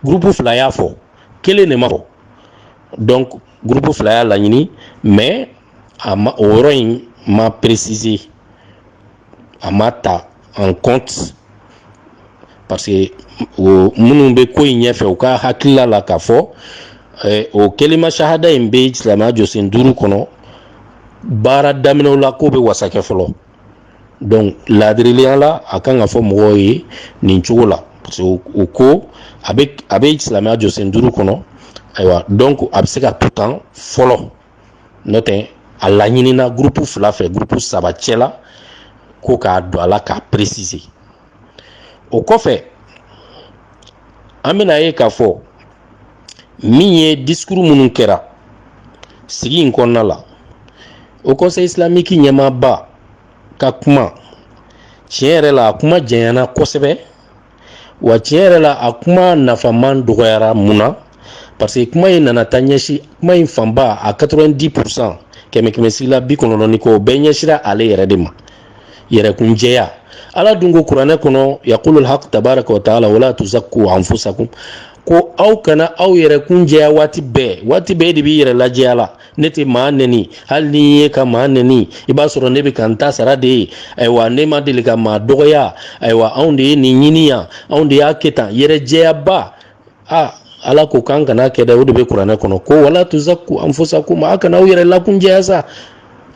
gurupu fila y'a fɔ kelen de ma fɔ donc gurupu fila y'a laɲini mais a ma o yɔrɔ in ma préciser a ma ta en compte parce que o minnu bɛ ko in ɲɛfɛ u ka hakilila la k'a fɔ eh, o kelima sahada in bɛ silamɛya jɔsen duuru kɔnɔ baara daminɛw la k'o bɛ wasakɛ fɔlɔ donc laadirileya la a kan ka fɔ mɔgɔw ye nin cogo la parce que o ko a bɛ a bɛ silamɛya jɔsen duuru kɔnɔ ayiwa donc a bɛ se ka to tan fɔlɔ n'o tɛ a laɲinina gurupu fila fɛ gurupu saba cɛla ko k'a don a la k'a préciser o kɔfɛ an bɛna ye k'a fɔ min ye discours minnu kɛra sigi in kɔnɔna la haut conseil islamique ɲɛmaaba ka kuma tiɲɛ yɛrɛ la a kuma janyana kosɛbɛ wa tiɲɛ yɛrɛ la a kuma nafaman dɔgɔyara mun na parce que kuma in nana taa ɲɛsin kuma in fanba a 90 pourcent kɛmɛ kɛmɛ sigi la bi kɔnɔntɔn ni kɔ o bɛɛ ɲɛsira ale yɛrɛ de ma yɛrɛkun jɛya ala dun ko kuranɛ kɔnɔ yaqulul haq tabaraka wa taala wala tuzakku anfusakum ko aw kana aw yɛrɛ kun jɛya waati bɛɛ waati bɛɛ e de b'i yɛrɛ lajɛya la ne tɛ maa nɛni hali n'i ye ka maa nɛni i b'a sɔrɔ ne bɛ ka n ta sara de ye ayiwa ne ma deli ka maa dɔgɔya ayiwa anw de ye nin ɲini yan anw de y'a kɛ tan yɛrɛ jɛyaba aa ala ko k'an kan'a kɛ dɛ o de bɛ kuranɛ kɔnɔ ko wala tuzakku anfusakum a kana aw yɛrɛ lakunjɛya sa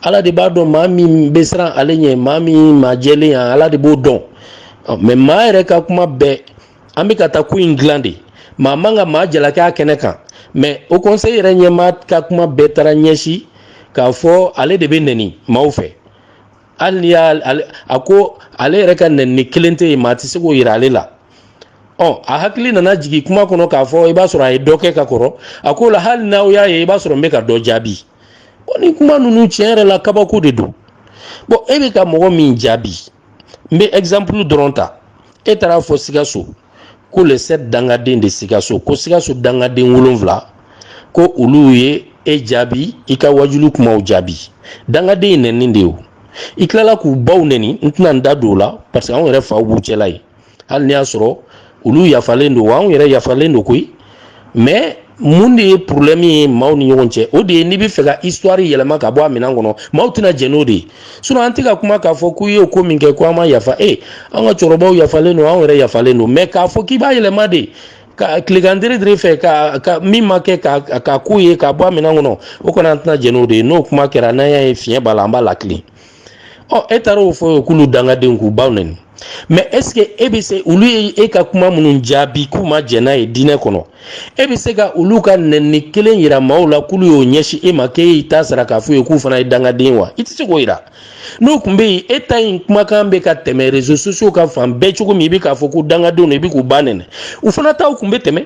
ala de b'a dɔn maa min bɛ siran ale ɲɛ maa min maa jɛlen yan ala de b'o dɔn mais maa yɛrɛ ka kuma bɛɛ an bɛ ka taa ko in dilan de maa man ka maa jalaki a kɛnɛ kan mais haut conseil yɛrɛ ɲɛmaa ka kuma bɛɛ taara ɲɛsin k'a fɔ ale de bɛ nɛni maaw fɛ hali ni y'a a ko ale yɛrɛ ka nɛni kelen tɛ yen maa tɛ se k'o yira ale la ɔ a hakili nana jigin kuma kɔnɔ k'a fɔ i b'a sɔrɔ a ye dɔ kɛ ka kɔrɔ a ko la hali n'aw y'a ye i b'a sɔrɔ n bɛ ka dɔ jaabi bon nin kuma ninnu tiɲɛ yɛrɛ la kabako de don bon e bɛ ka mɔgɔ min jaabi n bɛ exemple dɔrɔn ta e taara a fɔ sikaso ko les sept dangaden de sikaso ko sikaso dangaden wolonfila ko olu ye e jaabi i ka wajulu kumaw jaabi dangaden ye nɛni de ye o i tilala k'u baw nɛni n tɛna n da don o la parce que anw yɛrɛ faw b'u cɛla yen hali n'i y'a sɔrɔ olu yafalen don wa anw yɛrɛ yafalen don koyi mais mun de ye problème ye maaw ni ɲɔgɔn cɛ o de ye n'i bɛ fɛ ka histoire yɛlɛma ka bɔ a minɛn kɔnɔ maaw tɛna jɛn n'o de ye sinon an tɛ ka kuma k'a fɔ k'u ye ko min kɛ ko an ma yafa e an ka cɛkɔrɔbaw yafalen don anw yɛrɛ yafalen don mais k'a fɔ k'i b'a yɛlɛma de ka tilekan dere fɛ ka ka min ma kɛ ka ka k'o ye ka bɔ a minɛn kɔnɔ o kɔni an tɛna jɛn n'o de ye n'o kuma kɛra n'an y'a ye fiɲɛ b'a la an b'a latilen ɔ e taara o fɔ k'olu dangadenw k'u baw nɛni mais est-ce que e bɛ se olu ye e ka kuma minnu jaabi k'u ma jɛn n'a ye diinɛ kɔnɔ e bɛ se ka olu ka nɛni kelen yira maaw la k'olu y'o ɲɛsin e ma k'e y'i ta sara k'a f'u ye k'u fana ye dangaden wa i tɛ se k'o yira n'o tun bɛ yen e ta in kumakan bɛ ka tɛmɛ réseaux sociaux kan fan bɛɛ cogo min i bɛ k'a fɔ ko dangadenw don i bɛ k'u ba nɛni u fana taw tun bɛ tɛmɛ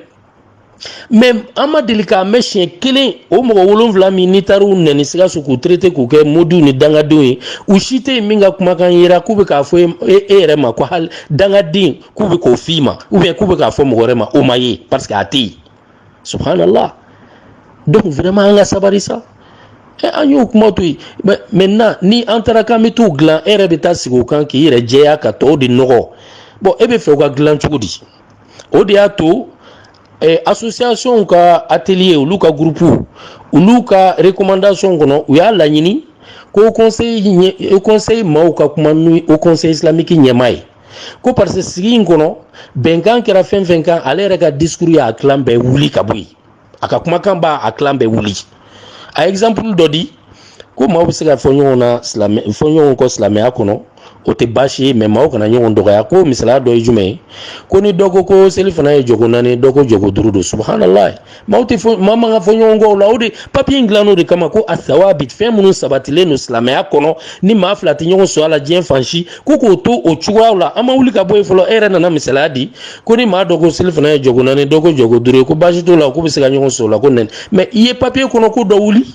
mais an ma deli k'a mɛn siɲɛ kelen o mɔgɔ wolonfila min n'i taara u nɛni sikaso k'u traité k'u kɛ modiw ni dangadenw ye u si tɛ yen min ka kumakan yera k'u bɛ k'a fɔ e, e yɛrɛ ma ko hali dangaden k'u bɛ k'o f'i ma ou bien k'u bɛ k'a fɔ mɔgɔ wɛrɛ ma o ma ye parce que a tɛ yen subhanallah donc vraiment an ka sabari sa Eh, an y'o kuma to yen maintenant ni an taara k'an bɛ t'u dilan e yɛrɛ bɛ taa sigi o kan k'i yɛrɛ jɛya ka tɔw de nɔgɔ bon e bɛ fɛ u ka dilan cogo di o de y'a to eh, associationw ka atelier olu ka groupe olu ka recommandation kɔnɔ u y'a laɲini ko conseil ɲɛ conseil maaw ka kuma ni haut conseil islamique ɲɛmaa ye ko parce que sigi in kɔnɔ bɛnkan kɛra fɛn fɛn kan ale yɛrɛ ka discours y'a kilan bɛɛ wuli ka bɔ yen a ka kumakan b'a a kilan bɛɛ wuli a ye exemple dɔ di ko maaw bɛ se ka fɔ ɲɔgɔn na silamɛ fɔ ɲɔgɔn kɔ silamɛya kɔnɔ o tɛ baasi ye mais maaw kana ɲɔgɔn dɔgɔya ko misaliya dɔ ye jumɛn ye ko ni dɔ ko ko selifana ye jɔko naani dɔ ko jɔko duuru don subhanalayi maaw tɛ fɔ maa man ka fɔ ɲɔgɔn kɔ o la o de papier in dilan o de kama ko asawabit fɛn minnu sabatilen don silamɛya kɔnɔ ni maa fila tɛ ɲɔgɔn sɔrɔ a la diɲɛ fan si ko k'o to o cogoyaw la an ma wuli ka bɔ yen fɔlɔ e yɛrɛ nana misaliya di ko ni maa dɔ ko selifana ye jɔko naani dɔ ko jɔko duuru ye ko baasi t'o la k'u bɛ se ka ɲɔgɔn sɔrɔ o la ko nɛni mais i ye papier kɔnɔko dɔ wuli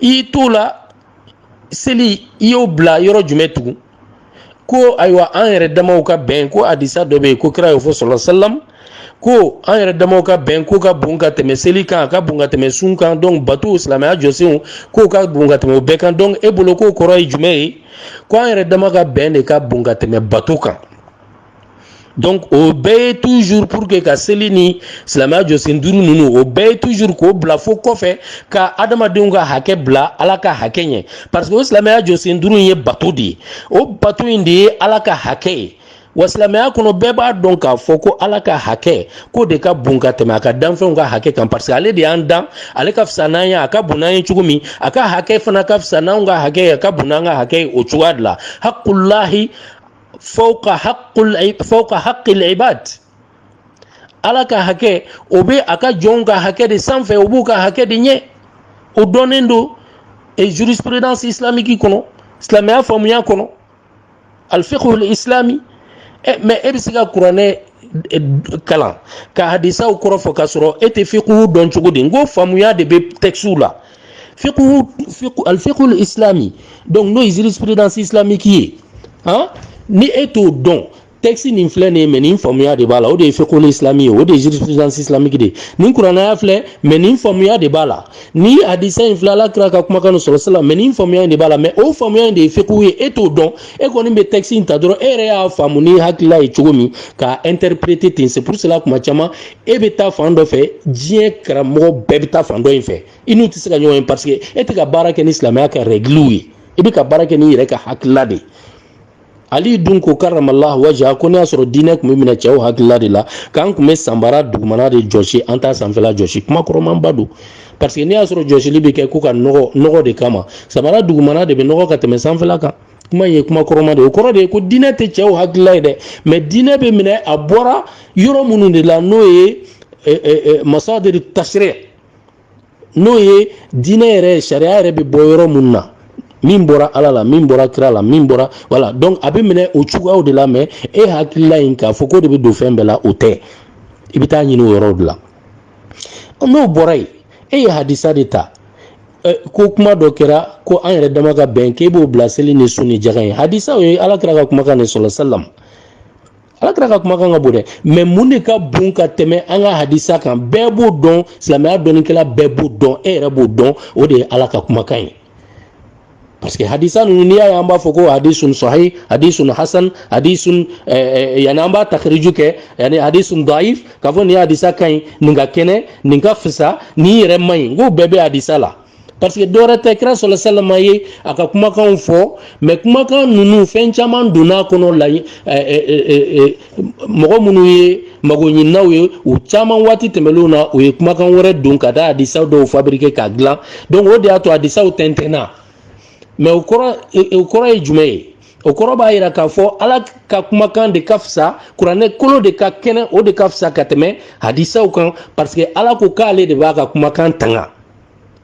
i y'i t'o la seli i y'o bila yɔrɔ jumɛn tugun ko ayiwa an yɛrɛ damaw ka bɛn ko hadisa dɔ bɛ yen ko kira y'o fɔ sallallahu alaihi wasallam ko an yɛrɛ damaw ka bɛn k'o ka bon ka tɛmɛ seli kan a ka bon ka tɛmɛ sun kan donc batow silamɛya jɔsenw k'o ka bon ka tɛmɛ o bɛɛ kan donc e bolo k'o kɔrɔ ye jumɛn ye ko an yɛrɛ dama ka bɛn de ka bon ka tɛmɛ bato kan donc o bɛɛ ye toujours pour que ka seli ni silamɛya jɔsen duuru ninnu o bɛɛ ye toujours k'o bila fo kɔfɛ ka adamadenw ka hakɛ bila ala ka hakɛ ɲɛ parce que o silamɛya jɔsen duuru in ye bato de ye o bato in de ye ala ka hakɛ ye wa silamɛya kɔnɔ bɛɛ b'a dɔn k'a fɔ ko ala ka hakɛ k'o de ka bon ka tɛmɛ a ka danfɛnw ka hakɛ kan parce que ale de y'an dan ale ka fisa n'an ye a ka bon n'an ye cogo min a ka hakɛ fana ka fisa n'anw ka hakɛ ye a ka bon n'an ka hakɛ ye o cogoya de la haqqulahi fawqa haqqul fawqa haqqil ibad ala ka hakɛ o bɛ a ka jɔnw ka hakɛ de sanfɛ o b'u ka hakɛ de ɲɛ o dɔnnen don e jurisprudence islamique kɔnɔ silamɛya faamuya kɔnɔ alfiqhul islami ɛ mais e bɛ se ka kuranɛ kalan ka hadisaw kɔrɔ fɔ k'a sɔrɔ e tɛ fiqhu dɔn cogo di n ko faamuya de bɛ textew la fiqhu fiqhu al fiqhul islami donc n'o ye jurisprudence islamique ye han ni e t'o dɔn texte nin filɛ nin ye mais nin faamuya de b'a la o de ye fiqhul islami ye o de ye jurisprudence islamique de ye nin kurana aya filɛ mais nin faamuya de b'a la ni hadisa in filɛ ala kira ka kumakan nin salla salam mais nin faamuya in de b'a la mais o faamuya in de ye fiqhu ye e t'o dɔn e kɔni bɛ texte in ta dɔrɔn e yɛrɛ y'a faamu n'i hakilila ye cogo min k'a interpréter ten c'est pour cela kuma caman e bɛ taa fan dɔ fɛ diɲɛ karamɔgɔ bɛɛ bɛ taa fan dɔ in fɛ i n'u tɛ se ka ɲɔgɔn ye parce que e tɛ ka baara kɛ ni silamɛya ka rɛgiliw ye i bɛ ka baara kɛ n'i yɛrɛ ka hakilila de ye ali dun ko karramallahu wajha ko n'i y'a sɔrɔ diinɛ tun bɛ minɛ cɛw hakilila de la k'an tun bɛ sanbara dugumana de jɔsi an t'a sanfɛla jɔsi kuma kɔrɔmanba don parce que n'i y'a sɔrɔ jɔsili bɛ kɛ ko ka nɔgɔ nɔgɔ de kama sanbara dugumana de bɛ nɔgɔ ka tɛmɛ sanfɛla kan kuma ye kuma kɔrɔma de o kɔrɔ de ye ko diinɛ tɛ cɛw hakilila ye dɛ mais diinɛ bɛ minɛ a bɔra yɔrɔ minnu de la n'o ye masadir tashri' n'o ye diinɛ yɛrɛ sariya yɛrɛ bɛ bɔ yɔrɔ minnu na min bɔra ala la min bɔra kira la min bɔra voilà donc a bɛ minɛ o cogoyaw de la mais e hakilila in k'a fɔ k'o de bɛ don fɛn bɛɛ la o tɛ i bɛ taa ɲini o yɔrɔw de la n'o bɔra yen e ye hadisa de ta ko kuma dɔ kɛra ko an yɛrɛ dama ka bɛn k'e b'o bila seli ni sun ni jaga ɲɛ hadisa o ye ala kira ka kumakan de salla salam ala kira ka kumakan ka bon dɛ mais mun de ka bon ka tɛmɛ an ka hadisa kan bɛɛ b'o dɔn silamɛya dɔnnikɛla bɛɛ b'o dɔn e yɛrɛ b'o dɔn o de ye ala ka kumakan ye parce que hadisa ninnu n'i y'a ye an b'a fɔ ko hadisun sahih hadisun hasan hadisun eh, eh, yani an b'a takhriju kɛ yani hadisun daif k'a fɔ nin hadisa ka ɲi nin ka kɛnɛ nin ka fisa nin yɛrɛ man ɲi n k'o bɛɛ bɛ hadisa la parce que dɔwɛrɛ tɛ kira salla salam ye a ka kumakanw fɔ mais kumakan ninnu fɛn caman donna kɔnɔ la eh, mɔgɔ minnu ye magoɲininaw ye u caman waati tɛmɛnlenw na u ye kumakan wɛrɛ don ka taa hadisaw dɔw fabriquer k'a dilan donc o de y'a to hadisaw tɛntɛnna mais o kɔrɔ o kɔrɔ ye jumɛn ye o kɔrɔ b'a yira k'a fɔ ala ka kumakan de ka fisa kuranɛ kolo de ka kɛnɛ o de ka fisa ka tɛmɛ hadisaw kan parce que ala ko k'ale de b'a ka kumakan tanga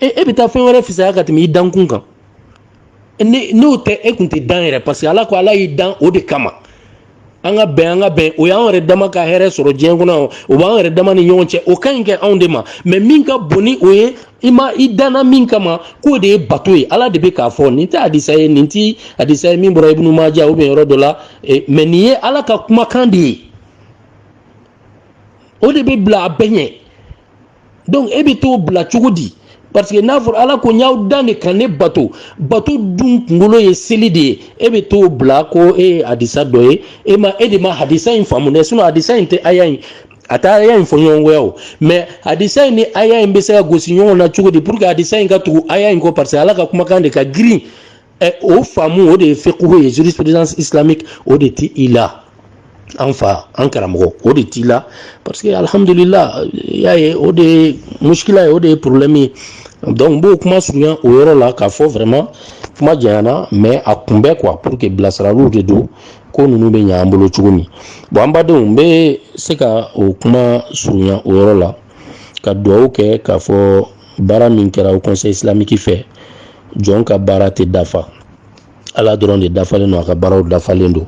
e e bɛ taa fɛn wɛrɛ fisaya ka tɛmɛ i dankun kan ni n'o tɛ e kun tɛ dan yɛrɛ parce que ala ko ala y'i dan o de kama an ka bɛn an ka bɛn o y'an yɛrɛ dama ka hɛrɛ sɔrɔ diɲɛ kɔnɔ o b'an yɛrɛ dama ni ɲɔgɔn cɛ o ka ɲi kɛ anw de ma mais min ka bon ni o ye i ma i danna min kama k'o de ye bato ye ala de bɛ k'a fɔ nin tɛ hadisa ye nin tɛ hadisa ye min bɔra ibnu maja ou bien yɔrɔ dɔ la e, mais nin ye ala ka kumakan de ye o de bɛ bila a bɛɛ ɲɛ donc e bɛ t'o bila cogo di parce que n'a fɔra ala ko n y'aw dan de ka ne bato bato dun kunkolo ye seli de ye e bɛ t'o bila ko e ye hadisa dɔ ye e ma e de ma hadisa in faamu dɛ sinon hadisa in tɛ aya in a tɛ aya in fɔɲɔgɔnkɔya o mais hadisa in ni aya in bɛ se ka gosi ɲɔgɔn na cogo di pour que hadisa in ka tugu aya in kɔ parce que ala ka kumakan de ka girin ɛ o faamu o de ye fiqhu ye jurisprudence islamique o de tɛ i la an fa an karamɔgɔ o de t'i la parce que alhamdulila y'a ye o de ye muskila ye o de ye problème ye donc n b'o kuma surunya o yɔrɔ la k'a fɔ vraiment kuma janyana mais a kun bɛ quoi pour que bilasiraliw de don ko ninnu bɛ ɲɛ an bolo cogo min bon an badenw n bɛ se ka o kuma surunya o yɔrɔ la ka dugawu kɛ k'a fɔ baara min kɛra haut conseil islamique fɛ jɔn ka baara tɛ dafa ala dɔrɔn de dafalen don a ka baaraw dafalen don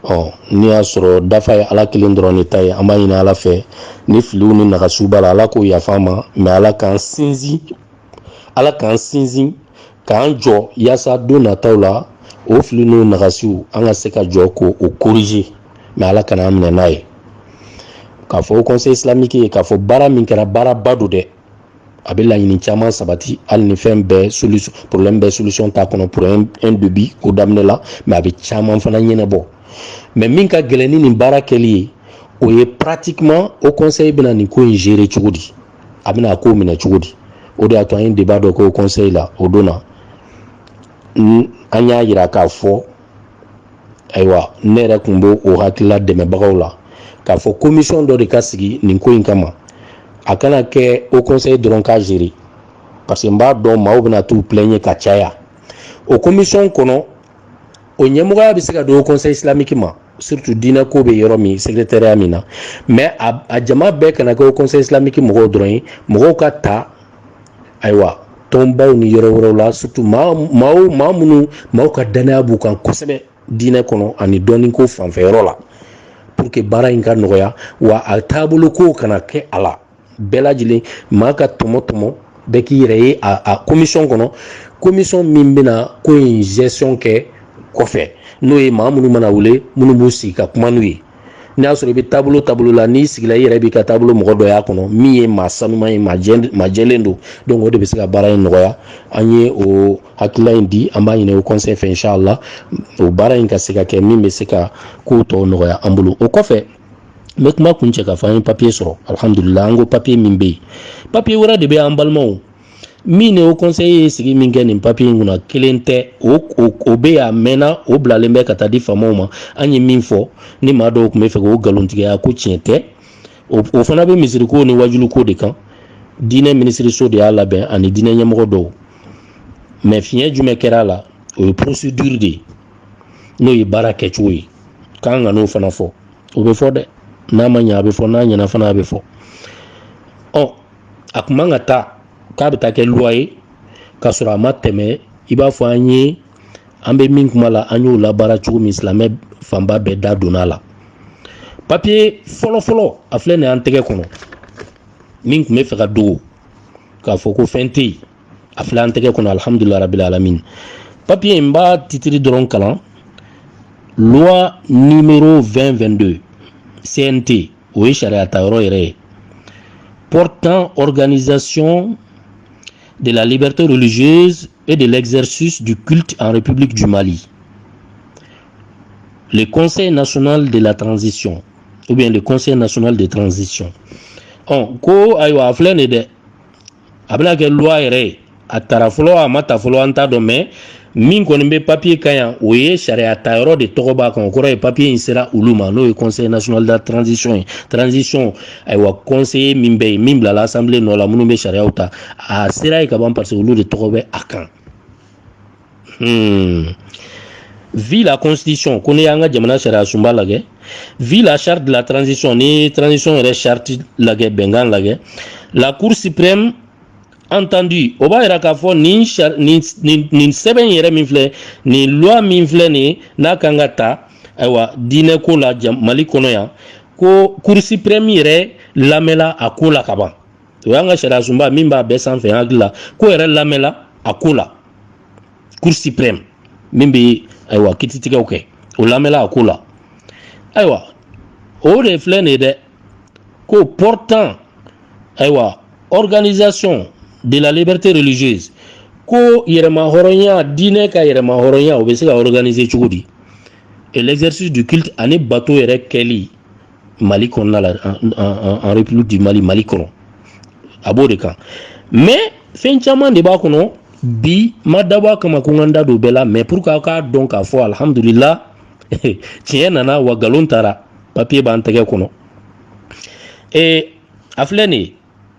ɔ n'i y'a sɔrɔ dafa ye ala kelen dɔrɔn de ta ye an b'a ɲini ala fɛ ni filiw ni nagasiw b'a la ala k'o yafa ma mais ala k'an sinsin ala k'an sinsin k'an jɔ yaasa don nataw la o fili n'o nagasiw an ka se ka jɔ k'o corriger mais ala kana an minɛ n'a ye k'a fɔ haut conseil islamique ye k'a fɔ baara min kɛra baaraba don dɛ a bɛ laɲini caman sabati hali ni fɛn bɛɛ solution problème bɛɛ solution t'a kɔnɔ pour un début ko daminɛ la mais a bɛ caman fana ɲɛnabɔ mais min ka gɛlɛn ni nin baara kɛli ye o ye pratiquement haut conseil bɛna nin ko in gérer cogo di a bɛna a ko minɛ cogo di o de y'a to an ye débat dɔ kɛ haut conseil la o don na an y'a yira k'a fɔ ayiwa ne yɛrɛ tun b'o o hakilila dɛmɛbagaw la k'a fɔ commission dɔ de ka sigi nin ko in kama a kana kɛ haut conseil dɔrɔn k'a gérer parce que n b'a dɔn maaw bɛna t'u plaigner ka caya o commission kɔnɔ o ɲɛmɔgɔya bɛ se ka don haut conseil islamique ma surtout diinɛ ko bɛ yɔrɔ min secrétariat min na mais a jama bɛɛ kana kɛ haut conseil islamique mɔgɔw dɔrɔn ye mɔgɔw ka ta ayiwa tɔnbaw ni yɔrɔ wɛrɛw la surtout maa maa minnu maaw ka danaya b'u kan kosɛbɛ diinɛ kɔnɔ ani dɔnniko fanfɛyɔrɔ la pour que baara in ka nɔgɔya wa a taabolo ko kana kɛ a la bɛɛ lajɛlen maa ka tɔmɔ tɔmɔ bɛɛ k'i yɛrɛ ye a commission kɔnɔ commission min bɛna ko in gestion kɛ kɔfɛ n'o ye maa minnu mana wele minnu b'u sigi ka kuma n'u ye n'i y'a sɔrɔ i bɛ taabolo taabolo la n'i sigila i yɛrɛ b'i ka taabolo mɔgɔ dɔ y'a kɔnɔ min ye maa sanuman ye maa jɛlen don donc o de bɛ se ka baara in nɔgɔya an ye o hakilila in di an b'a ɲini haut conseil fɛ inshallah o baara in ka se ka kɛ min bɛ se ka kow tɔw nɔgɔya an bolo o kɔfɛ n bɛ kuma kuncɛ k'a fɔ an ye papiye sɔrɔ alihamudulila an ko papiye min bɛ yen papiye wɛrɛ de bɛ an balimaw min ni o conseil ye sigi min kɛ nin papiye in kunna kelen tɛ o o bɛ yen a mɛnna o bilalen bɛ ka taa di faamaw ma an ye min fɔ ni maa dɔw tun bɛ fɛ k'o nkalontigiya ko tiɲɛ tɛ o fana bɛ misiriko ni wajuliko de kan diinɛ minisiriso de y'a labɛn ani diinɛ ɲɛmɔgɔ dɔw mais fiɲɛ jumɛn kɛra a la o ye procédure de ye n'o ye baara kɛcogo ye k'an ka n'o fana fɔ o bɛ fɔ dɛ n'a ma ɲɛ a bɛ fɔ n'a ɲɛna fana a bɛ fɔ ɔ a kun man ka taa k'a bɛ taa kɛ loi ye k'a sɔrɔ a ma tɛmɛ i b'a fɔ an ye an bɛ min kuma la an y'o labaara cogo min silamɛ fanba bɛɛ da donna a la papiye fɔlɔfɔlɔ a filɛ nin an tɛgɛ kɔnɔ min tun bɛ fɛ ka dogo k'a fɔ ko fɛn tɛ yen a filɛ an tɛgɛ kɔnɔ alihamudulila rabili alamin papiye in n b'a titiri dɔrɔn kalan loi numéro 2022 CNT o ye sariya ta yɔrɔ yɛrɛ ye portant organisation de la liberté religieuse et de l'exercice du culte en République du Mali. Le Conseil national de la transition, ou bien le Conseil national de transition. Ɔ ko ayiwa a filɛ nin ye dɛ a bɛna kɛ loi yɛrɛ ye a tara fɔlɔ a ma ta fɔlɔ an t'a dɔn mais min kɔni bɛ papiye kan yan o ye sariya ta yɔrɔ de tɔgɔ b'a kan o kɔrɔ ye papiye in sera olu ma n'o ye conseil national de la transition ye transition ayiwa conseiller min bɛ yen min bilala assemblée nɔ la minnu bɛ sariyaw ta a sera yen ka ban parce que olu de tɔgɔ bɛ a kan Hmm. vu la constitution ko n'i y'an ka jamana sariya sunba lagɛ vu la charte de la transition ni transition yɛrɛ charte lagɛ bɛnkan lagɛ la cour suprême entendu o b'a yira k'a fɔ nin nin nin nin sɛbɛn yɛrɛ min filɛ nin loi min filɛ nin n'a kan ka ta ayiwa diinɛ ko la mali kɔnɔ yan ko cour suprême yɛrɛ lamɛnla a ko la ka ban o y'an ka sariyasoba min b'a bɛɛ sanfɛ n hakili la k'o yɛrɛ lamɛnla a ko la cour suprême min bɛ ayiwa kititigɛw kɛ o lamɛnla a ko la ayiwa o de filɛ nin ye dɛ ko portant ayiwa organisation de la liberté religieuse ko yɛrɛmahɔrɔnya diinɛ ka yɛrɛmahɔrɔnya o bɛ se ka organiser cogo di et l'exercice du culte ani bato yɛrɛ kɛli mali kɔnɔna la en république du mali mali kɔnɔ a b'o de kan mais fɛn caman de b'a kɔnɔ bi ma dabɔ a kama ko n ka n da don bɛɛ la mais pour que aw k'a dɔn k'a fɔ alhamdulila tiɲɛ nana wa nkalon taara papiye b'an tɛgɛ kɔnɔ ee a filɛ nin ye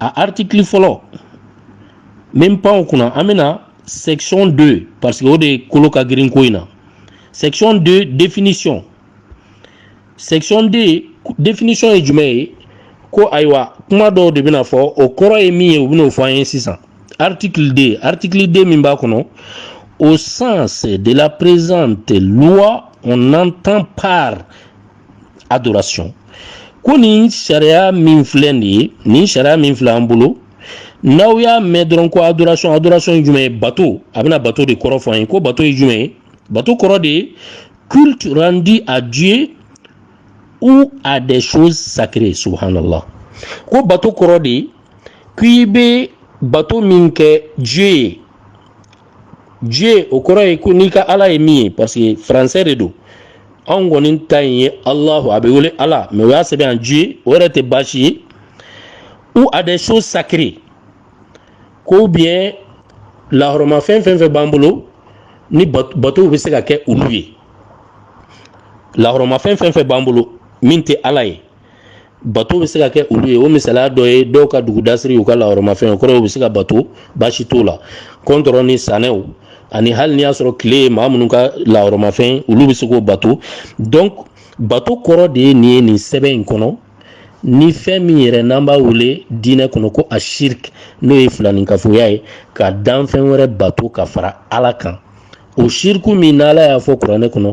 a article fɔlɔ min pan o kunna an bɛ na section 2 parce que o de kolo ka girin ko in na section 2 définition section 2 définition ye jumɛn ye ko ayiwa kuma dɔw de bɛna fɔ o kɔrɔ ye min ye u bɛn'o fɔ an ye sisan article 2 article 2 min b'a kɔnɔ au sens de la présente loi on entend par adoration ko nin sariya min filɛ nin ye nin sariya min filɛ an bolo n'aw y'a mɛn dɔrɔn ko adoration adoration ye jumɛn ye bato a bɛna bato de kɔrɔ fɔ an ye ko bato ye jumɛn ye bato kɔrɔ de ye culte rendu à Dieu ou à des choses sacrées subhanallah ko bato kɔrɔ de ye k'i bɛ bato min kɛ Dieu ye Dieu o kɔrɔ ye ko n'i ka ala ye min ye parce que français de don anw kɔni ta in ye alahu a bɛ wele ala mais u y'a sɛbɛn yan Dieu o yɛrɛ tɛ baasi ye ou à des choses sacrées ko bien lahɔrɔmafɛn fɛn fɛn b'an bolo ni batow bɛ se ka kɛ olu ye lahɔrɔmafɛn fɛn fɛn b'an bolo min tɛ ala ye bato bɛ se ka kɛ olu ye o misaliya dɔ ye dɔw ka dugudasiri u ka lahɔrɔmafɛn o kɔrɔ u bɛ se k'a bato baasi t'o la kɔntɔrɔn ni sanɛw ani hali n'i y'a sɔrɔ tile ye maa minnu ka lahɔrɔmafɛn olu bɛ se k'o bato donc bato kɔrɔ de ye nin ye nin sɛbɛn in kɔnɔ ni fɛn min yɛrɛ n'an b'a wele diinɛ kɔnɔ ko a shirk n'o ye filaninkafoya ye ka danfɛn wɛrɛ bato ka fara ala kan o shirku min n'ala y'a fɔ kuranɛ kɔnɔ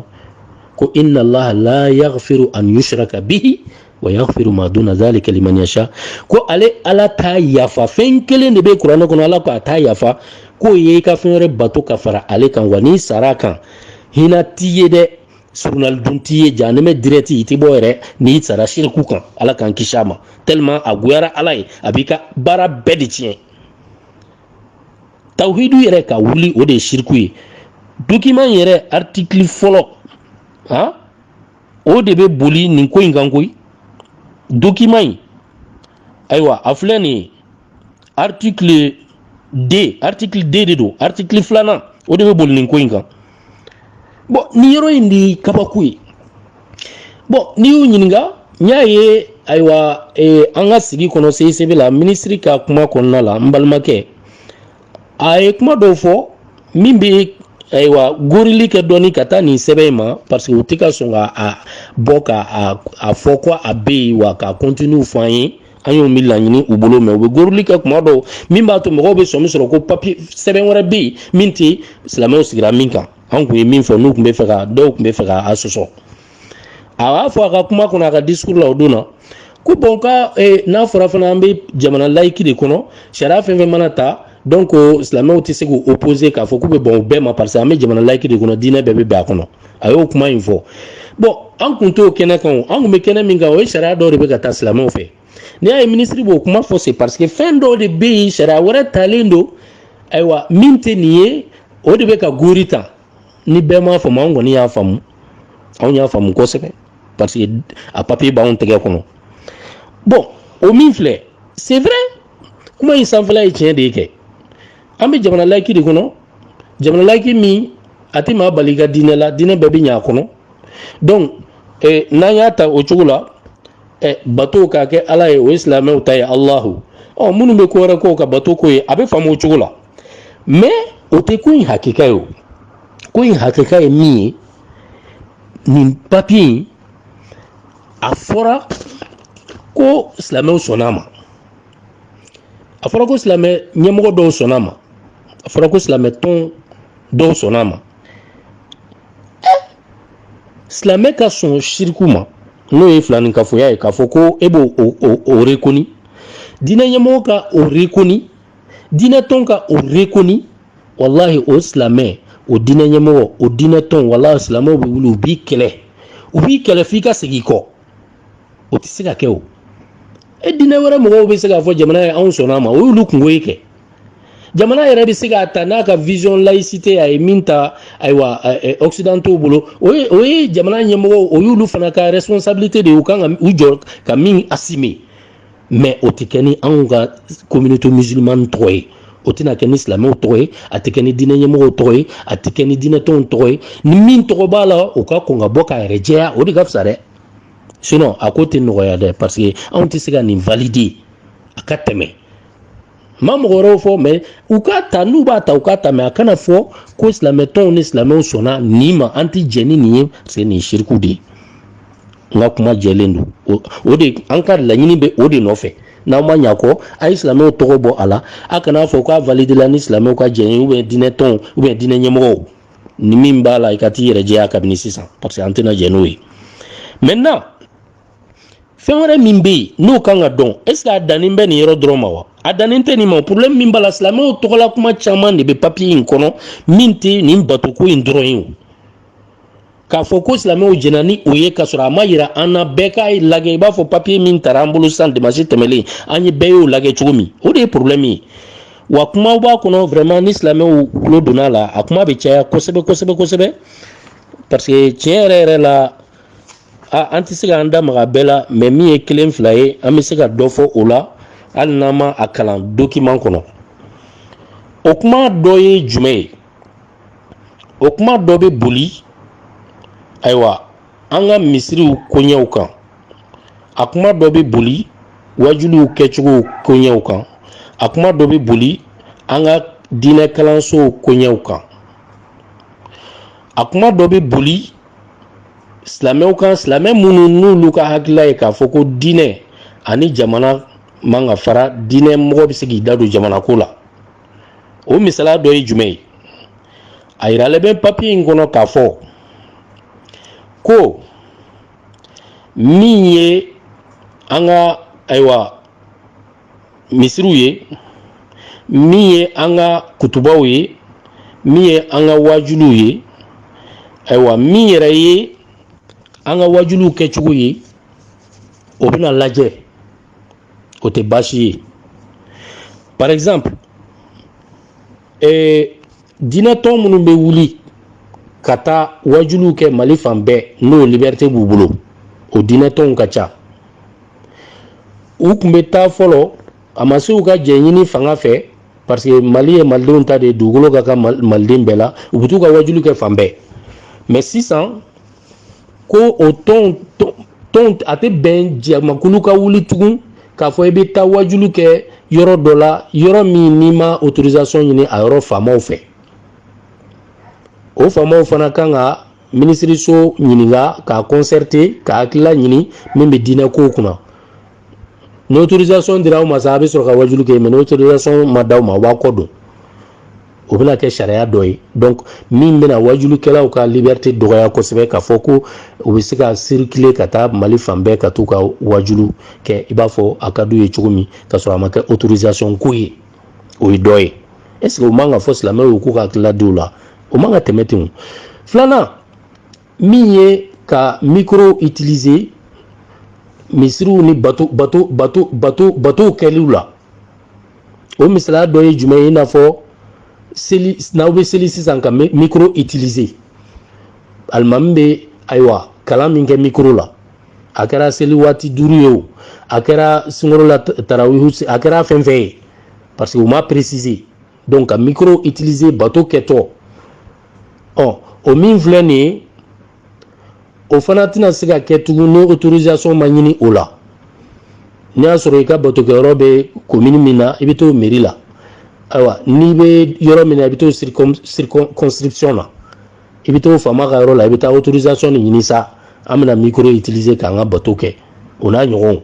ko inna allaha la yaghfiru an yushraka bihi wa yaghfiru ma duna dhalika liman yasha ko ale ala t'a yafa fɛn kelen de bɛ kuranɛ kɔnɔ ala ko a t'a yafa k'o ye i ka fɛn wɛrɛ bato ka fara ale kan wa n'i sara a kan hinɛ t'i ye dɛ solonali dun t'i ye jahanama direct i tɛ bɔ yɛrɛ n'i sara shirku kan ala k'an kisi a ma tellement a goyara ala ye a b'i ka baara bɛɛ de tiɲɛ tawhidu yɛrɛ ka wuli o de ye siriku ye dokiman yɛrɛ artikili fɔlɔ ha o de bɛ boli nin ko in kan koyi dokiman in ayiwa a filɛ nin ye artikili 2 artikili 2 de don artikili filanan o de bɛ boli nin ko in kan bɔn nin yɔrɔ in de kabako ye bɔn n'i y'u ɲininka n y'a ye ayiwa eh, an ka sigi kɔnɔ CICB la minisiri ka kuma kɔnɔna la n balimakɛ a ye kuma dɔw fɔ min bɛ ayiwa gorili kɛ dɔɔni ka taa nin sɛbɛn in ma parce que u tɛ ka sɔn ka a bɔ ka a fɔ ko a bɛ yen wa k'a contenu fɔ an ye an y'o min laɲini u bolo mais u bɛ goroli kɛ kuma dɔw min b'a to mɔgɔw bɛ sɔmi sɔrɔ ko papiye sɛbɛn wɛrɛ bɛ yen min tɛ silamɛw sigira min kan an kun ye min fɔ n'u kun bɛ fɛ ka dɔw kun bɛ fɛ ka a sɔsɔ a b'a fɔ a ka kuma kɔnɔ a ka disukuru la o don na ko bon ka eh, n'a fɔra fana an bɛ jamana layiki de kɔnɔ sariya fɛn fɛn mana ta donc silamɛw tɛ se k'u opposer k'a fɔ k'u bɛ bɛn u bɛɛ ma parce que an bɛ jamana layiki de kɔnɔ diinɛ bɛɛ bɛ bɛn a kɔnɔ a y'o kuma in fɔ bon an kun t'o kɛnɛ kan o an kun bɛ kɛnɛ min kan o ye sariya dɔw de bɛ ka ta silamɛw fɛ n'i y'a ye minisiri b'o kuma fɔ c'est parce que fɛn dɔw de bɛ yen sariya wɛrɛ talen don ayiwa min tɛ nin ye o de bɛ ka gori ta ni bɛɛ m'a faamu an kɔni y'a faamu anw y'a faamu kosɛbɛ parce que a papiye b'anw tɛgɛ kɔnɔ bon o min filɛ c'est vrai kuma in sanfɛla ye tiɲɛ de ye kɛ an bɛ jamana layiki de kɔnɔ jamana layiki min a tɛ maa bali i ka diinɛ la diinɛ bɛɛ bɛ ɲɛ a kɔnɔ donc eh, n'an y'a ta o cogo la eh, bato k'a kɛ ala ye o ye silamɛw ta ye alahu ɔ minnu bɛ ko wɛrɛ k'u ka batoko ye a bɛ faamu o cogo la mais o tɛ ko in hakika ye o ko in hakika ye min ye nin papiye in a fɔra ko silamɛw sɔnna a ma a fɔra ko silamɛ ɲɛmɔgɔ dɔw sɔnna a ma a fɔra ko silamɛ tɔn dɔw sɔnna a ma silamɛ ka sɔn siriku ma n'o ye filaninkafoya ye k'a fɔ ko e b'o rekoni diinɛ ɲɛmɔgɔ ka o rekoni diinɛ tɔn ka o rekoni walahi o silamɛ o diinɛ ɲɛmɔgɔ o diinɛ tɔn walahi silamɛw bɛ wuli u b'i kɛlɛ u b'i kɛlɛ f'i ka segin i kɔ o tɛ se ka kɛ o e diinɛ wɛrɛ mɔgɔw bɛ se k'a fɔ jamana ye anw sɔnna a ma o y'olu kunko ye kɛ jamana yɛrɛ bɛ se k'a ta n'a ka vision laïcité a ye min ta ayiwa occidentaux bolo o ye jamana ɲɛmɔgɔw o y'olu fana ka responsabilité de ye u kan ka u jɔ ka min assumer mais o tɛ kɛ ni anw ka communauté musulmane tɔgɔ ye o tɛna kɛ ni silamɛw tɔgɔ ye a tɛ kɛ ni diinɛ ɲɛmɔgɔw tɔgɔ ye a tɛ kɛ ni diinɛtɔnw tɔgɔ ye ni min tɔgɔ b'a la o ka kɔn ka bɔ k'a yɛrɛ jɛya o de ka fisa dɛ sinon a ko tɛ nɔgɔya dɛ parce que anw tɛ se ka nin valider a ka tɛmɛ n ma mɔgɔ wɛrɛw fɔ mais u k'a ta n'u b'a ta u k'a ta mais a kana fɔ ko silamɛtɔnw ni silamɛw sɔnna nin ma an tɛ jɛn ni nin ye parce que nin ye siriku de ye n ka kuma jɛlen don o o de an ka laɲini bɛ o de nɔfɛ n'aw ma ɲ'a kɔ a ye silamɛw tɔgɔ bɔ a la a kana fɔ k'a validela ni silamɛw ka jɛn ye ou bien diinɛ tɔnw ou bien diinɛ ɲɛmɔgɔw ni min b'a la i ka t'i yɛrɛ jɛya kabini sisan parce que an tɛna jɛn n'o ye maintenant fɛn wɛrɛ min bɛ yen n'o kan ka dɔn est ce que a dannen bɛ nin yɔrɔ dɔrɔn ma wa a dannen tɛ nin ma problème min b'a la silamɛw tɔgɔla kuma caman de bɛ papiye in kɔnɔ min tɛ nin batoko in dɔrɔn ye o k'a fɔ ko silamɛw jɛnna ni o ye k'a sɔrɔ a ma yira an na bɛɛ k'a lajɛ i b'a fɔ papiye min tara an bolo sisan dimansi tɛmɛlen an ye bɛɛ y'o lajɛ cogo min o de ye porobilɛmu ye wa kumaw b'a kɔnɔ vraiment ni silamɛw tulo donna a la a kuma bɛ caya kosɛbɛ kosɛbɛ kosɛbɛ parce que tiɲɛ yɛrɛ yɛrɛ la a an tɛ se k'an da maga bɛɛ la mais min ye kelen fila ye an bɛ se ka dɔ fɔ o la hali n'an ma a kalan dokiman kɔnɔ o kuma dɔ ye jumɛn ye o kuma dɔ bɛ boli ayiwa an ka misiriw koɲɛw kan a kuma dɔ bɛ boli wajuliw kɛcogo koɲɛw kan a kuma dɔ bɛ boli an ka diinɛ kalansow koɲɛw kan a kuma dɔ bɛ boli silamɛw kan silamɛ minnu n'olu ka hakilila ye k'a fɔ ko diinɛ ani jamana man ka fara diinɛ mɔgɔ bɛ se k'i da don jamana ko la o misaliya dɔ ye jumɛn ye a yiralen bɛ papiye in kɔnɔ k'a fɔ ko min ye an ka ayiwa misiriw ye min ye an ka kutubaw ye min ye an ka wajuliw ye ayiwa min yɛrɛ ye an ka wajuliw kɛcogo ye o bɛna lajɛ o tɛ baasi ye par exemple ee diinɛtɔn minnu bɛ wuli ka taa wajuliw kɛ mali fan bɛɛ n'o liberté b'u bolo o diinɛtɔnw ka ca u kun bɛ taa fɔlɔ a ma se u ka jɛn ɲini fanga fɛ parce que mali ye malidenw ta de ye dugukolo ka kan maliden bɛɛ la u bɛ t'u ka wajuli kɛ fan bɛɛ mais sisan ko o tɔn tɔn a tɛ bɛn jamakulu ka wuli tugun k'a fɔ i bɛ taa wajulu kɛ yɔrɔ dɔ la yɔrɔ min n'i ma autorisation ɲini a yɔrɔ faamaw fɛ o faamaw fana kan ka minisiriso ɲininka k'a concerter ka hakilila ɲini min bɛ diinɛ kow kunna n'autorisation dira aw ma sa a bɛ sɔrɔ ka wajulu kɛ mais n'autorisation ma d'aw ma waa kɔ don o bɛna kɛ sariya dɔ ye donc min bɛna wajulukɛlaw ka liberté dɔgɔya kosɛbɛ k'a fɔ ko u bɛ se ka circuler ka taa mali fan bɛɛ ka t'u ka wajulu kɛ i b'a fɔ a ka d'u ye cogo min k'a sɔrɔ a ma kɛ autorisation ko ye o ye dɔ ye est-ce que o man ka fɔ silamɛw ye k'u ka hakilila di o la o man ka tɛmɛ ten filanan min ye ka micro utiliser misiriw ni bato bato batow kɛliw la o misaliya dɔ ye jumɛn ye i n'a fɔ seli n'aw bɛ seli sisan ka micro utiliser alimami bɛ ayiwa kalan min kɛ micro la a kɛra seli waati duuru ye wo a kɛra sunkalo la tarawihu a kɛra fɛn fɛn ye parce que u m'a préciser donc ka micro utiliser bato kɛtɔ ɔ o min filɛ nin ye o fana tɛna se ka kɛ tugun n'o autorisation ma ɲini o la n'i y'a sɔrɔ i ka batokɛyɔrɔ bɛ komini min na i bɛ t'o meri la ayiwa n'i bɛ yɔrɔ min na i bɛ t'o circonscription na i bɛ t'o faama ka yɔrɔ la i bɛ taa autorisation de ɲini sa an bɛna micro utiliser k'an ka bato kɛ o n'a ɲɔgɔnw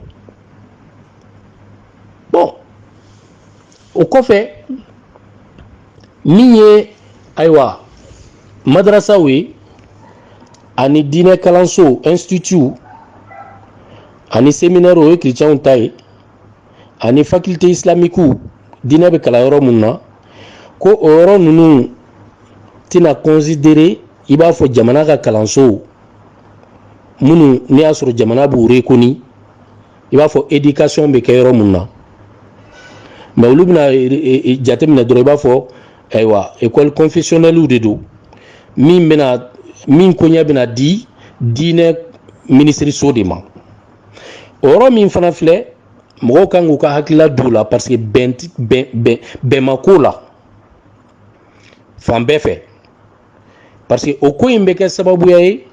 o kɔfɛ min ye ayiwa madarasaw ye ani diinɛ kalansow institut ani seminɛri o ye kiricɛnw ta ye ani fakilte isilamikiw diinɛ bɛ kalan yɔrɔ minnu na ko o yɔrɔ ninnu tɛna considere i b'a fɔ jamana ka kalansow minnu n'i y'a sɔrɔ jamana b'u rekoni i b'a fɔ éducation bɛ kɛ yɔrɔ mun na mais olu bɛna jateminɛ dɔrɔn i b'a fɔ ayiwa école confessionnellew de don min bɛna min koɲɛ bɛna di diinɛ minisiriso de ma o yɔrɔ min fana filɛ mɔgɔw kan k'u ka hakilila don o la parce que bɛn ma k'o la fan bɛɛ fɛ parce que o ko in bɛ kɛ sababuya ye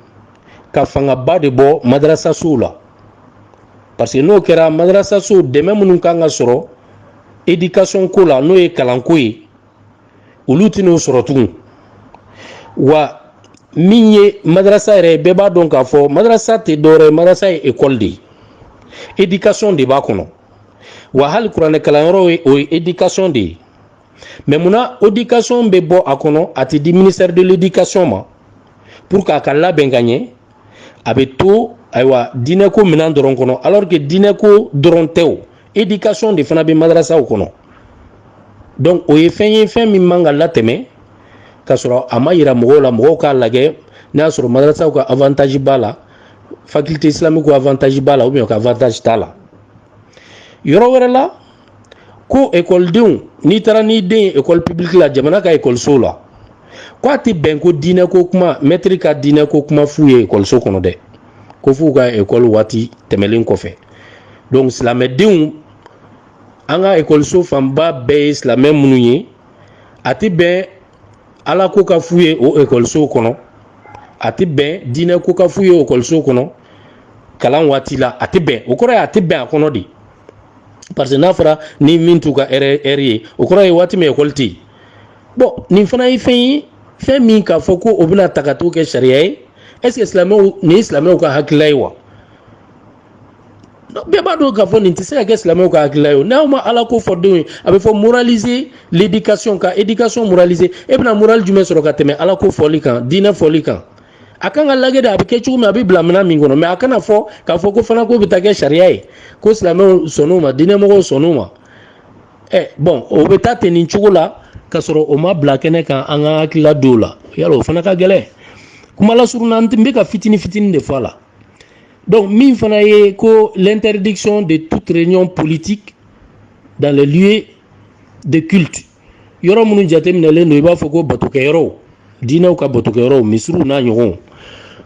ka fangaba de bɔ madarasasow la parce que n'o kɛra madarasasow dɛmɛ minnu kan ka sɔrɔ éducation ko la n'o ye kalanko ye olu tɛn'o sɔrɔ tugun wa min ye madarasa yɛrɛ ye bɛɛ b'a dɔn k'a fɔ madarasa tɛ dɔwɛrɛ ye madarasa ye ekɔli de ye éducation de b'a kɔnɔ wa hali kuranɛkalanyɔrɔ ye o ye éducation de ye mais munna éducation bɛ bɔ a kɔnɔ a tɛ di ministère de l'éducation ma pour k'a ka labɛn ka ɲɛ a bɛ to ayiwa diinɛko minɛn dɔrɔn kɔnɔ alors que diinɛko dɔrɔn tɛ o éducation de fana bɛ madarasaw kɔnɔ donc o ye fɛn ye fɛn min man ka latɛmɛ k'a sɔrɔ a ma yira mɔgɔw la mɔgɔw k'a lajɛ n'a y'a sɔrɔ madarasaw ka avantage b'a la faculté islamique ka avantage b'a la ou bien ka avantage t'a la yɔrɔ wɛrɛ la ko ekɔlidenw n'i taara n'i den ye ekɔli publique la jamana ka ekɔlisow la ko a tɛ bɛn ko diinɛ ko kuma mɛtiri ka diinɛ ko kuma f'u ye ekɔliso kɔnɔ dɛ ko f'u ka ekɔli waati tɛmɛlen kɔfɛ donc silamɛdenw an ka ekɔliso fanba bɛɛ ye silamɛ minnu ye a tɛ bɛn ala ko ka f'u ye o ekɔlisow kɔnɔ a tɛ bɛn diinɛ ko ka f'u ye o ekɔlisow kɔnɔ kalan waati la a tɛ bɛn o kɔrɔ ye a tɛ bɛn a kɔnɔ de parce que n'a fɔra ni min t'u ka heure ye o kɔrɔ ye waati min ekɔli tɛ yen bon nin fana ye fɛn ye fɛn min k'a fɔ ko o bɛna ta ka t'o kɛ sariya ye est ce que silamɛw nin ye silamɛw ka hakilila ye wa bɛɛ b'a dɔn k'a fɔ nin tɛ se ka kɛ silamɛw ka hakilila ye o n'aw ma ala ko fɔ denw ye a bɛ fɔ moraliser l'éducation ka éducation moraliser e bɛna morale jumɛn sɔrɔ ka tɛmɛ ala ko fɔli kan diinɛ fɔli kan a kan ka lagɛ de a bɛ kɛ cogo min a bɛ bila minɛn min kɔnɔ mais a kana fɔ k'a fɔ k'o fana k'o bɛ taa kɛ sariya ye ko silamɛw sɔnn'o ma diinɛmɔgɔw sɔnn'o ma ɛ bon o bɛ taa ten nin cogo la k'a sɔrɔ o ma bila kɛnɛ kan an ka hakilila dɔw la yala o fana ka gɛlɛn kuma lasurunya n bɛ ka fitini fitini de fɔ a la donc min fana ye ko l'interdiction de toute réunion politique dans les lieux de culte yɔrɔ minnu jateminɛlen don i b'a fɔ ko batokɛyɔrɔw diinɛw ka batokɛyɔrɔw misiriw n'a ɲɔgɔnw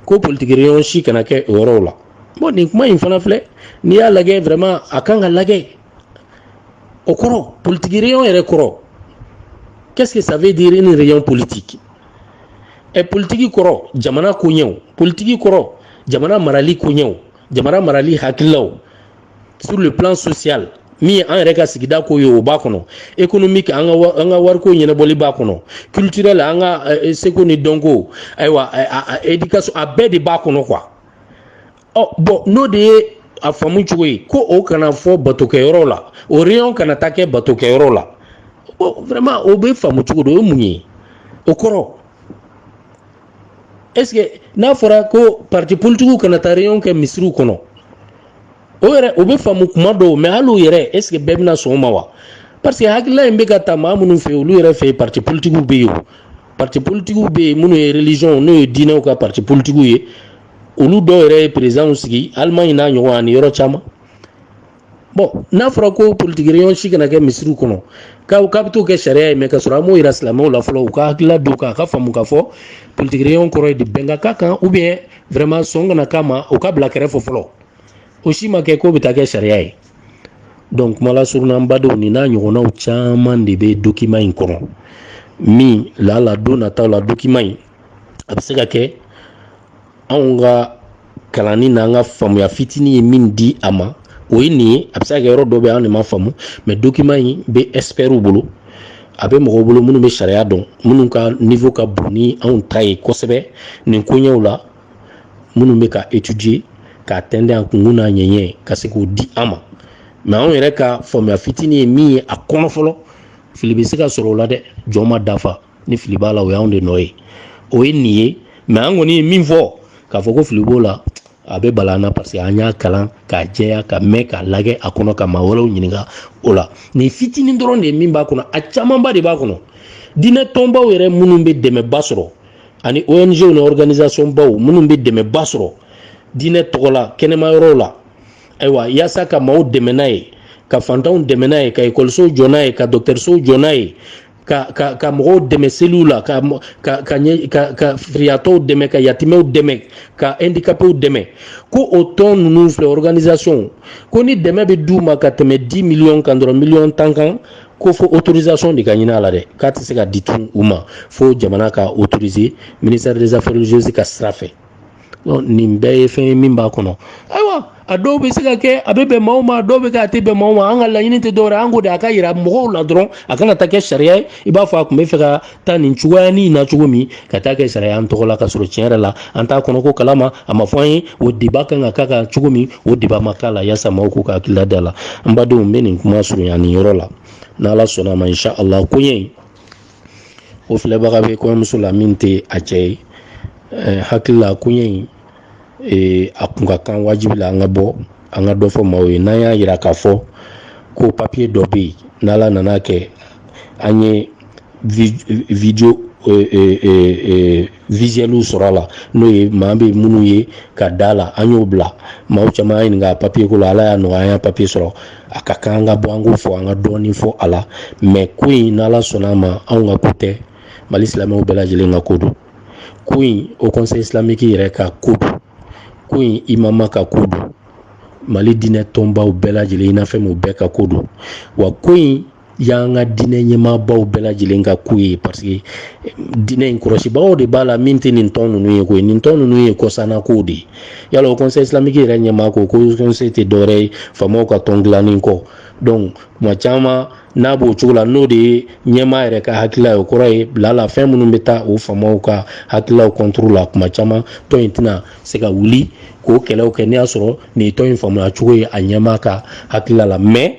ko politique réunion si kana kɛ o yɔrɔw la bon nin kuma in fana filɛ n'i y'a lajɛ vraiment a kan ka lajɛ o kɔrɔ politique réunion yɛrɛ kɔrɔ qu'est-ce que ça veut dire une réunion politique ɛ politiki kɔrɔ jamana koɲɛw politiki kɔrɔ jamana marali koɲɛw jamana marali hakililaw sur le plan social min ye an yɛrɛ ka sigida ko ye o b'a kɔnɔ économique an ka an ka wariko ɲɛnabɔli b'a kɔnɔ culturel an ka seko ni dɔnko ayiwa éducation a bɛɛ de b'a kɔnɔ quoi ɔ bon n'o de ye a faamu cogo ye ko o kana fɔ batokɛyɔrɔ la o réunion kana taa kɛ batokɛyɔrɔ la vraiment o bɛ faamu cogo di o ye mun ye o kɔrɔ est ce que n'a fɔra ko parti politique kana taa réunion kɛ misiriw kɔnɔ o yɛrɛ o bɛ faamu kuma dɔw mais hali o yɛrɛ est ce que bɛɛ bɛna sɔn o ma wa parce que hakilila in bɛ ka ta maa minnu fɛ yen olu yɛrɛ fɛ yen parti politique bɛ yen o parti politique bɛ yen minnu ye religion n'o ye diinɛw ka parti politique ye olu dɔw yɛrɛ ye présidents sigi allemagne n'a ɲɔgɔn ani yɔrɔ caman bon n'a fɔra ko politique réunion si kana kɛ misiriw kɔnɔ k'a k'a bɛ t'o kɛ sariya ye mais k'a sɔrɔ an m'o yira silamɛw la fɔlɔ u ka hakilila dɔn k'a ka faamu k'a fɔ politique réunion kɔrɔ ye di bɛn ka k'a kan ou bien vraiment sɔn kana k'a ma o ka bila kɛrɛfɛ fɔlɔ o si ma kɛ k'o bɛ taa kɛ sariya ye donc kuma lasurunna n badenw nin n'a ɲɔgɔnnaw caman de bɛ document in kɔnɔ min lala don nataw la document in a bɛ se ka kɛ anw ka kalanni n'an ka faamuya fitinin ye min di a ma o ye nin ye a bɛ se ka kɛ yɔrɔ dɔ bɛ an de ma faamu mais document in bɛ experts bolo a bɛ mɔgɔw bolo minnu bɛ sariya dɔn minnu ka niveau ka bon ni anw ta ye kosɛbɛ nin koɲɛw la minnu bɛ k'a étudier k'a tɛntɛn a kunkun n'a ɲɛɲɛ ka se k'o di an ma mais anw yɛrɛ ka faamuya fitinin ye min ye a kɔnɔ fɔlɔ fili bɛ se ka sɔrɔ o la dɛ jɔn ma dafa ni fili b'a la o y'anw de nɔ ye o ye nin ye mais an kɔni ye min fɔ k'a fɔ ko fili b'o la a bɛ bala an na parce que an y'a kalan k'a jɛya ka mɛn k'a lajɛ a kɔnɔ ka maa wɛrɛw ɲininka o la nin fitinin dɔrɔn de ye min b'a kɔnɔ a camanba de b'a kɔnɔ diinɛ tɔnbaw yɛrɛ minnu bɛ dɛmɛba sɔrɔ ani ong ni organisation baw minnu bɛ dɛmɛba sɔrɔ diinɛ tɔgɔ la kɛnɛma yɔrɔw la ayiwa yaasa ka maaw dɛmɛ n'a ye ka fantanw dɛmɛ n'a ye ka ekɔlisow jɔ n'a ye ka dɔgɔtɔrɔsow jɔ n'a ye ka ka ka mɔgɔw dɛmɛ seliw la ka ka ka ɲɛ ka ka firiyatɔw dɛmɛ ka yatimɛw dɛmɛ ka handicapéw dɛmɛ ko o tɔn ninnu filɛ organisation ko ni dɛmɛ bɛ d'u ma ka tɛmɛ 10 millions kan dɔrɔn miliyɔn tan kan ko fo autorisation de ka ɲini a la dɛ k'a tɛ se ka di tun u ma fo jamana ka autoriser ministère des affaires religieuses ka sira fɛ nin bɛɛ ye fɛn ye min b'a kɔnɔ ayiwa a dɔw bɛ se ka kɛ a bɛ bɛn maaw ma dɔw bɛ kɛ a tɛ bɛn maaw ma an ka laɲini tɛ dɔwɛrɛ an ko de a ka yira mɔgɔw la dɔrɔn a kana taa kɛ sariya ye i b'a fɔ a tun bɛ fɛ ka taa nin cogoyanin na cogo min ka taa kɛ sariya an tɔgɔ la ka sɔrɔ tiɲɛ yɛrɛ la an t'a kɔnɔko kalama a ma fɔ an ye o débat kan ka k'a kan cogo min o débat ma k'a la yaasa maaw k'u ka hakilila d'a la n badenw n bɛ nin kuma surunya nin yɔrɔ la n'ala sɔnna a ma insha Allah koɲɛ o filɛbaga bɛ kɔɲɔmuso la min tɛ a cɛ ye eh, hakili la koɲɛ in eh, a kun ka kan wajibi la an ka bɔ an ka dɔ fɔ maaw ye n'an y'a yira k'a fɔ ko papiye dɔ bɛ yen n'ala nana kɛ an ye video eh, visuelw sɔrɔ a la n'o ye maa bɛ minnu ye ka d'a la an y'o bila maaw caman y'a ɲininka papiye ko la ala y'a nɔgɔya an y'a papiye sɔrɔ a ka kan an ka bɔ an k'o fɔ an ka dɔɔnin fɔ a la mais ko in n'ala sɔnna a ma anw ka ko tɛ mali silamɛw bɛɛ lajɛlen ka ko don ko in haut conseil islamique yɛrɛ ka ko don ko in imama ka ko don mali diinɛ tɔnbaw bɛɛ lajɛlen unafem u bɛɛ ka ko don wa ko in y'an ka diinɛ ɲɛmaabaw bɛɛ lajɛlen ka ko ye parce que diinɛ in kɔlɔsibagaw de b'a la min tɛ nin tɔn ninnu ye koyi nin tɔn ninnu ye kɔsanna kow de ye yala haut conseil islamique yɛrɛ ɲɛmaa ko haut conseil tɛ dɔwɛrɛ ye faamaw ka tɔn dilannen kɔ donc tuma caman n'a b'o cogo la n'o de ye ɲɛmaa yɛrɛ ka hakilila ye o kɔrɔ ye bila la fɛn minnu bɛ taa o faamaw ka hakililaw contre la tuma caman tɔn in tɛna se ka wuli k'o kɛlɛw kɛ n'i y'a sɔrɔ nin ye tɔn in faamuya cogo ye a ɲɛmaa ka hakilila la mais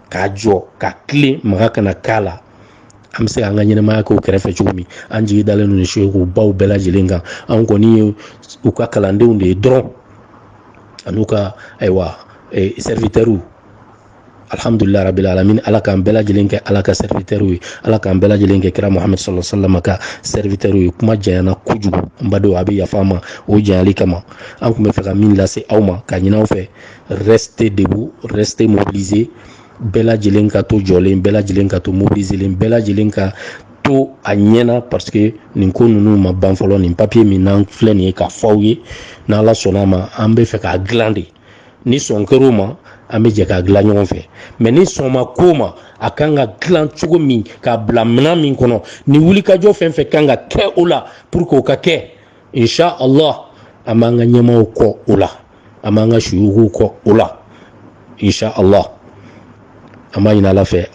k'a jɔ ka tilen maga kana k'a la an bɛ se k'an ka ɲɛnamaya k'o kɛrɛfɛ cogo min an jigi dalen don suyuku baw bɛɛ lajɛlen kan an kɔni ye u ka kalandenw de ye dɔrɔn an'u ka ayiwa eh, serviteurw alhamdulillah rabbil alamin ala k'an bɛɛ lajɛlen kɛ ala ka serviteurw ye ala k'an bɛɛ lajɛlen kɛ kira muhamad sallallahu alaihi wasallam ka serviteurw ye kuma janyana kojugu n badenw a bɛ yafa ma o janyali kama an tun bɛ fɛ ka min lase aw ma ka ɲini aw fɛ restez debout restez mobilisés bɛɛ lajɛlen ka to jɔlen bɛɛ lajɛlen ka to mobiliselen bɛɛ lajɛlen ka to a ɲɛna parce que nin ko ninnu ma ban fɔlɔ nin papier min n'an filɛ nin ye k'a fɔ aw ye n'ala sɔnna a ma an bɛ fɛ k'a dilan de ni sɔn kɛr'o ma an bɛ jɛ k'a dilan ɲɔgɔn fɛ mais ni sɔn ma k'o ma a kan ka dilan cogo min k'a bila minɛn min kɔnɔ ni wulikajɔ fɛn fɛn kan ka kɛ o la pour que o ka kɛ insha allah an b'an ka ɲɛmaaw kɔ o la an b'an ka suyukuw kɔ o la insha allah an b'a ɲini ala fɛ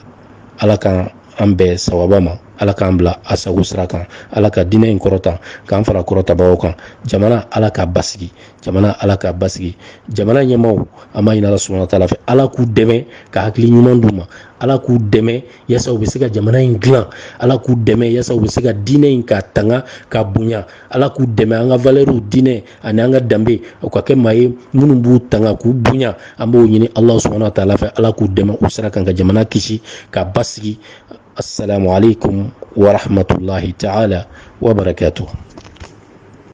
ala k'an bɛn sawaba ma ala k'an bila a sago sira kan ala ka diinɛ in kɔrɔta k'an fara kɔrɔtabagaw kan jamana ala k'a basigi jamana ala k'a basigi jamana ɲɛmaaw an b'a ɲini ala subahana wa taala fɛ ala k'u dɛmɛ ka hakili ɲuman d'u ma ala k'u dɛmɛ yaasa u bɛ se ka jamana in dilan ala k'u dɛmɛ yaasa u bɛ se ka diinɛ in ka tanga ka bonya ala k'u dɛmɛ an ka valeurw diinɛ ani an ka danbe u ka kɛ maa ye minnu b'u tanga k'u bonya an b'o ɲini ala subahana wa taala fɛ ala k'u dɛmɛ o sira kan ka jamana kisi ka basigi assalamu alaikum wa rahmatullahi taala wa barakatuh